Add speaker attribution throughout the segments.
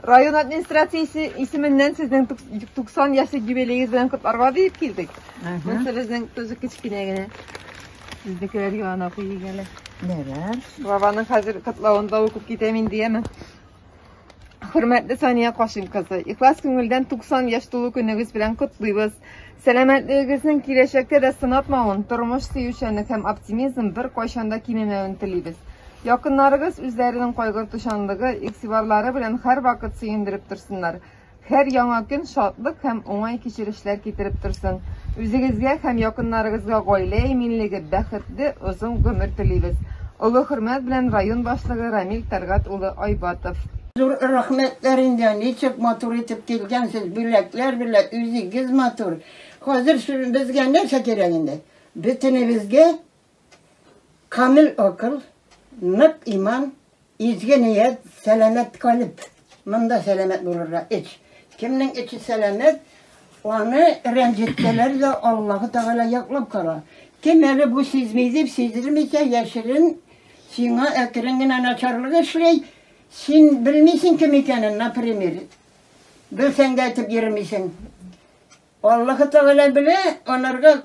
Speaker 1: Район администрациясе исеменнән сезнең 90 яшьлек юбилеегез белән котларга дип килдек. Монсы безнең төзек кечкенә генә. Безнекеләр янына куйыйк әле. Нәрәр?
Speaker 2: Бабаның хәзер
Speaker 1: котлавын да укып китәм инде, яме. Хөрмәтле Сания Кашим кызы, ихлас күңелдән 90 яшь тулу көнегез белән котлыйбыз. Сәламәтлегегезнең киләчәктә дә сынатмавын, тормыш сөючәнлек һәм оптимизм бер кайчанда кимемәвен телибез. Якыннарыгыз үзләренең кайгыртучанлыгы, игътибарлары белән һәрвакыт сөендереп торсыннар. Һәр яңа көн шатлык һәм уңай кичерешләр китереп торсын. Үзегезгә һәм якыннарыгызга гаилә иминлеге, бәхет, Сезгә дә озын гомер телибез. Олы хөрмәт белән район башлыгы Рамил Тәлгать улы Айбатов. Зур рәхмәтләр
Speaker 2: инде, ничек матур итеп килгәнсез, бүләкләр белә, үзегез матур. Хәзер безгә нәрсә кирәк инде? Бөтенебезгә камил акыл, нык иман. Изге ният, сәламәт калеб. Монда сәламәт булырга эч. Кемнең эче сәламәт, аны рәнҗеттеләр дә Аллаһы Тәгалә яклап кала. Кем әле бу сизми дип сиздермичә яшерен сиңа әкрен генә начарлык эшли, син белмисең кем икәнен, например. Белсәң дә әйтеп йөрмисең. Аллаһы Тәгалә белә, анарга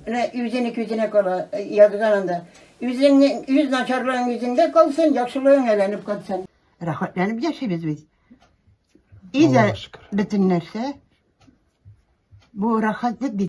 Speaker 2: Менә үзенеке үзенә кала, язган анда. Үзеңнең үз начарлыгың үзеңдә калсын, яхшылыгың әйләнеп кайтсын. Рәхәтләнеп яшибез без. И дә бөтен нәрсә бу рәхәтлек бит.